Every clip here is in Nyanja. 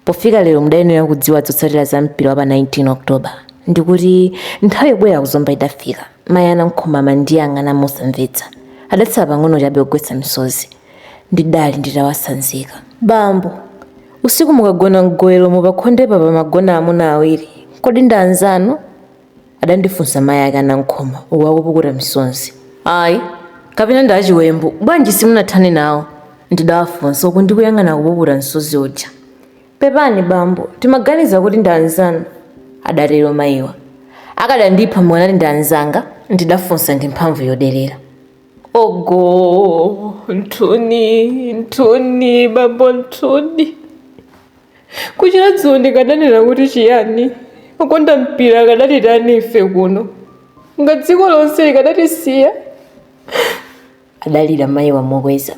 pofika lero mudayenera kudziwa zotsatira za mpira wa pa 19 october ndikuti nthawi yobwera kuzomba idafika mayi a nankhoma amandiyang'ana mosamvetsa adatsala pang'ono chabe kugwetsa misozi ndidali nditawasanzika bambo usiku mukagona mgowelomo pakhondepa pamagona amuna awiri kodi ndi anzanu adandifunsa mayi ake a Nankhoma uku akupukuta misozi. Ayi, kapena ndi achiwembu, bwanji simunathane nawo? ndidawafunsa uku ndikuyang'ana akupuputa msozi uja. Pepani bambo, timaganiza kuti ndi anzanu, adatero mayiwa. Akadandipha mukanati ndi anzanga? ndidafunsa ndi mphamvu yoderera. Ogoo, nthuni, nthuni, bambo nthuni. kuchira dzulo ndikadanena kuti chiyani okonda mpira akadatitani ife kuno nga dziko lonse likadatisiya adalira mayiwa mokweza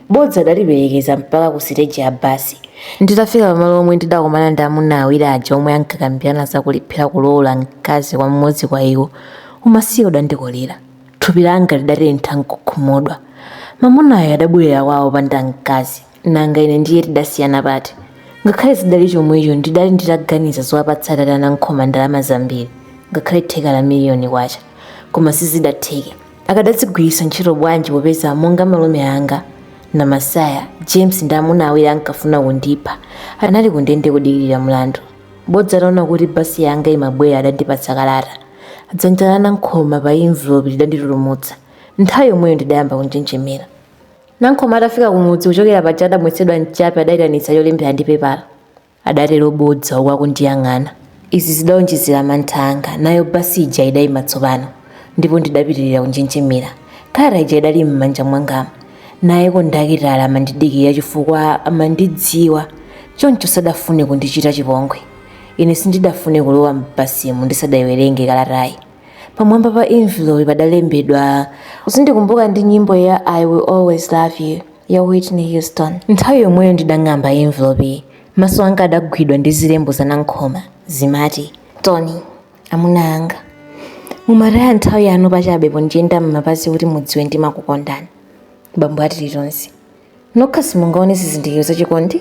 bodza adandiperekeza mpaka ku siteji ya basi nditafika pamalo omwe ndidakomana ndi amuna awiri aja omwe ankakambirana za kulephera kulowola mkazi kwa mmodzi kwa iwo umasiye udandikolera thupi langa lidatentha nkukhumudwa mamunayo adabwerera kwawo opanda mkazi nanga ine ndiye tidasiyana pati ngakhale zidali chomwecho ndidali nditaganiza zowapatsa atate a nankhoma ndalama zambiri ngakhale theka la miliyoni kwacha koma sizidatheke akadazigwiritsa ntchito bwanji popeza monga malume anga na masaya james ndi amuna awiri ankafuna kundipha anali kundende kudikirira mlandu bodza ataona kuti basi yanga imabwera adandipatsa kalata dzanja la nankhoma pa envelope lidanditutumutsa nthawi yomweyo ndidayamba kunjenjemera Nankhoma atafika kumudzi kuchokera paja adamwetsedwa mchape adaitanitsa cholembera ndi pepala, adatero Bodza uku akundiyang'ana. Izi zidaonjezera mantha anga. Nayo basi ija idaima tsopano, ndipo ndidapitirira kunjenjemera. Kalata ija idali m'manja mwangamu. Naye kondakitala amandidikirira chifukwa amandidziwa, choncho sadafune kundichita chipongwe. Ine sindidafune kulowa m'basimu ndisadaiwerenge kalatayi. pamwamba pa envelope padalembedwa uzindikumbuka ndi nyimbo ya i will always love you ya whitney houston nthawi yomweyo ndidang'amba envelope maso anga adagwidwa ndi zilembo za nankhoma zimati tony amuna anga mumataya nthawi yanu pachabe pondiyenda m'mapazi kuti mudziwe ndimakukondani bambo a tilitonse nokha simungaone zizindikiro za chikondi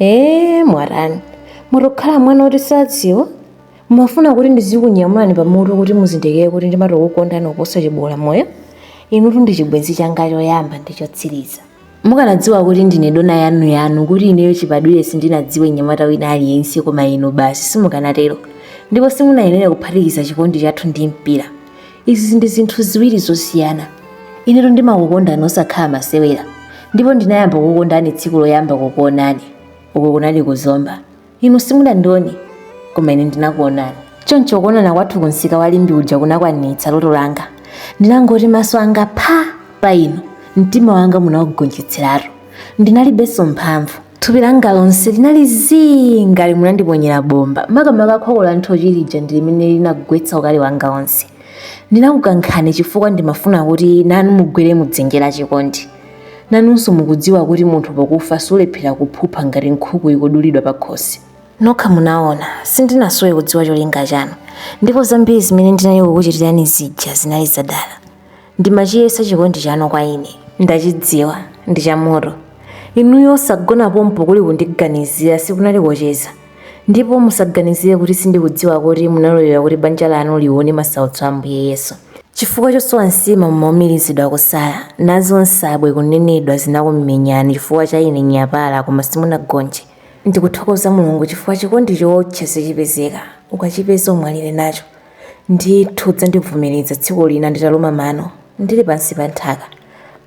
ee mwatani mutokhala mwana oti sadziwa mumafuna kuti ndizikunyamulani pamutu kuti muzindikire kuti ndimatokukondani kuposa chibola moyo inutu ndi chibwenzi changa choyamba ndi chotsiriza mukanadziwa kuti ndine dona yanu yanu kuti ineyo chibadwire sindinadziwe nyamata wina aliyense koma inu basi simukanatero ndipo simunayenera kuphatikiza chikondi chathu ndi mpira izi ndi zinthu ziwiri zosiyana inetu ndimakukondani osakhala masewera ndipo ndinayamba kukukondani tsiku loyamba kukuonani uko kunali ku Zomba inu simunandione koma ine ndinakuonani choncho kuonana kwathu kumsika wa Limbe uja kunakwanitsa loto langa ndinangoti maso anga pha pa inu mtima wanga munaugonjetseratu Ndinalibenso mphamvu. Thupi langa lonse linali zii ngati munandiponyera bomba. Makamaka khoko la nthochi lija ndi limene linagwetsa ukali wanga onse. Ndinakukankhani chifukwa ndimafuna kuti nanu mugwere mu dzenje la chikondi. Nanunso mukudziwa kuti munthu pokufa sulephera kuphupha ngati nkhuku ikudulidwa pakhosi. Nokha munaona, sindinasowe kudziwa cholinga chanu. Ndipo zambiri zimene ndinali kukuchitirani zija zinali zadala. Ndimachiyesa chikondi chanu kwa ine. Ndachidziwa, ndi chamoto. Inuyo osagona pompo kuli kundiganizira sikunali kocheza. Ndipo musaganizire kuti sindikudziwa kuti munalolera kuti banja lanu lione masautso a Ambuye Yesu. Chifukwa chosowa nsima mumaumirizidwa kusala, nazo nsabwe kunenedwa zinakumenyani chifukwa cha ine nyapala koma simunagonje. Ndikuthokoza Mulungu chifukwa chikondi chotere sichipezeka, ukachipeza umwalire nacho. Ndithu udzandivomereza tsiku lina nditaluma mano ndili pansi pa nthaka,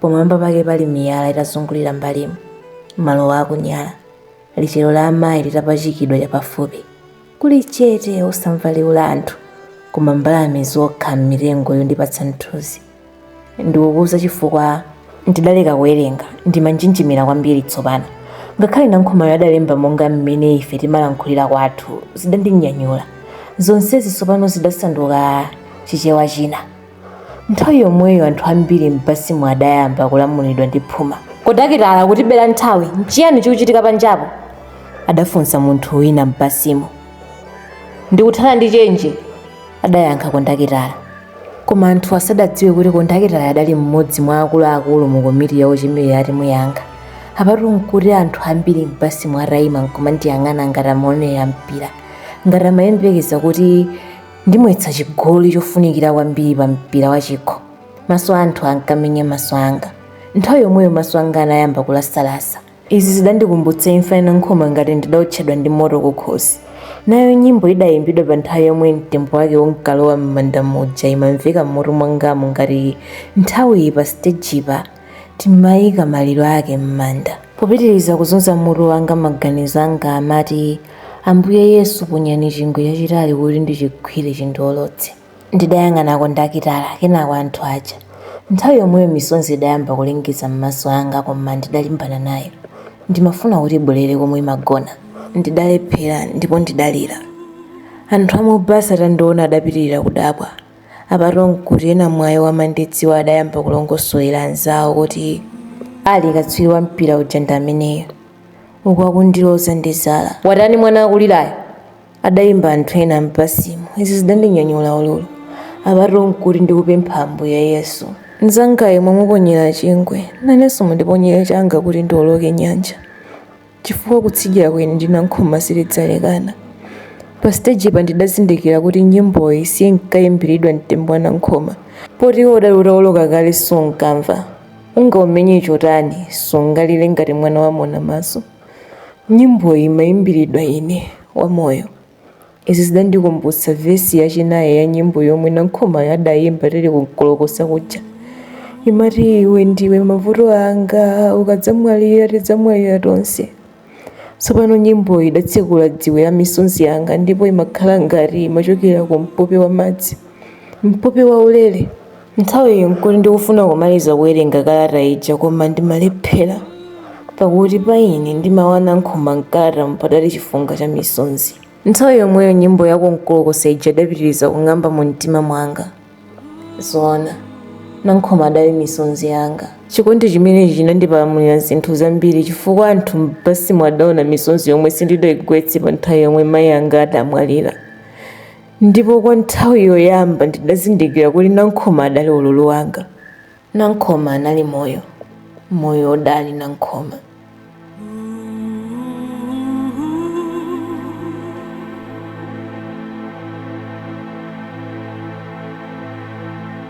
pamwamba pake pali miyala itazungulira m'mbalimu, maluwa akunyala, lichero la amayi litapachikidwa chapafupi. Kuli chete osamva liwu la anthu koma mbalame zokha m'mitengo yondipatsa mthunzi. ndikukuuza chifukwa ndidaleka kuwerenga ndimanjenjemera kwambiri tsopano ngakhale Nankhoma adalemba monga mmene ife timalankhulira kwathu zidandinyanyula zonsezi tsopano zidasanduka chichewa china nthawi yomweyo anthu ambiri m'basimu adayamba kulamulidwa ndi phuma kondakitala kutibera nthawi nchiyani chikuchitika panjapo adafunsa munthu wina m'basimu ndikuthana ndi chenje adayankha kondakitala koma anthu sadadziwe kuti kondakitala adali mmodzi mwa akuluakulu mu komiti ya ochemerera timu yanga apatu nkuti anthu ambiri m'basimu adaima nkumandiyang'ana ngati amaonera mpira ngati amayembekeza kuti ndimwetsa chigoli chofunikira kwambiri pa mpira wa chikho maso a anthu ankamenya maso anga nthawi yomweyo maso anga anayamba kulasalasa Izi zidandikumbutsa imfa ya Nankhoma ngati ndidaotchedwa ndi moto kukhosi. Nayo nyimbo idaimbidwa pa nthawi yomwe mtembo wake unkalowa m'manda muja imamveka m'mutu mwangamu ngati nthawiyi pa sitejipa timaika maliro ake m'manda. Popitiriza kuzunza mutu wanga maganizo anga amati, Ambuye Yesu ponyani chingwe chachitali kuti ndichigwire chindiolotse. Ndidayang'ana kondakita, kenako anthu aja. Nthawi yomweyo misonzi idayamba kulengeza m'maso anga koma ndidalimbana nayo. Ndimafuna kuti ibwerere komwe imagona. Ndidalephera ndipo ndidalira. Anthu a m'basi atandiona adapitirira kudabwa. Apatu n'kuti ena mwa iwo amandidziwa adayamba kulongosolera anzawo kuti, Ali, katswiri wa mpira uja ndi ameneyo. Uku akundiloza ndi zala. Watani mwana akulirayo? adayamba anthu ena m'basimo. Izi zidandinyanyula ululu. Apatu n'kuti ndikupempha Ambuye Yesu. Mnzangayo mwamuponyera chingwe, nanenso mundiponyere changa kuti ndiwoloke nyanja, chifukwa kutsidyako ine ndi Nankhoma sitidzalekana. Pasitejipa ndidazindikira kuti nyimboyi siinkayimbiridwa mtembo wa Nankhoma, poti iwo udali utawoloka kale sunkamva. Ungaumenye chotani, sungalire ngati mwana wamonamaso? Nyimboyi imaimbiridwa ine, wamoyo. Izi zidandikumbutsa vesi yachinayi ya nyimbo yomwe Nankhomayo adaimba tili ku Nkolokosa kuja. Imati, iwe ndiwe mavuto anga, ukadzamwalira tidzamwalira tonse. Tsopano nyimboyi idatsekula dziwe la misonzi yanga ndipo imakhala ngati imachokera ku mpope wa madzi, mpope waulere. Nthawiyo n'kuti ndikufuna kumaliza kuwerenga kalata ija koma ndimalephera, pakuti pa ine ndi mawu a Nankhoma m'kalatamo padali chifunga cha misonzi. Nthawi yomweyo nyimbo ya ku Nkolokosa ija idapitiriza kung'amba mu mtima mwanga. Zoona, Nankhoma adali misonzi yanga. Chikondi chimenechi chinandipalamulira zinthu zambiri chifukwa anthu m'basimo adaona misonzi yomwe sindidayigwetse pa nthawi yomwe mayi anga adamwalira. ndipo kwa nthawi yoyamba ndidazindikira kuti nankhoma adali ululu wanga nankhoma anali moyo moyo udali nankhoma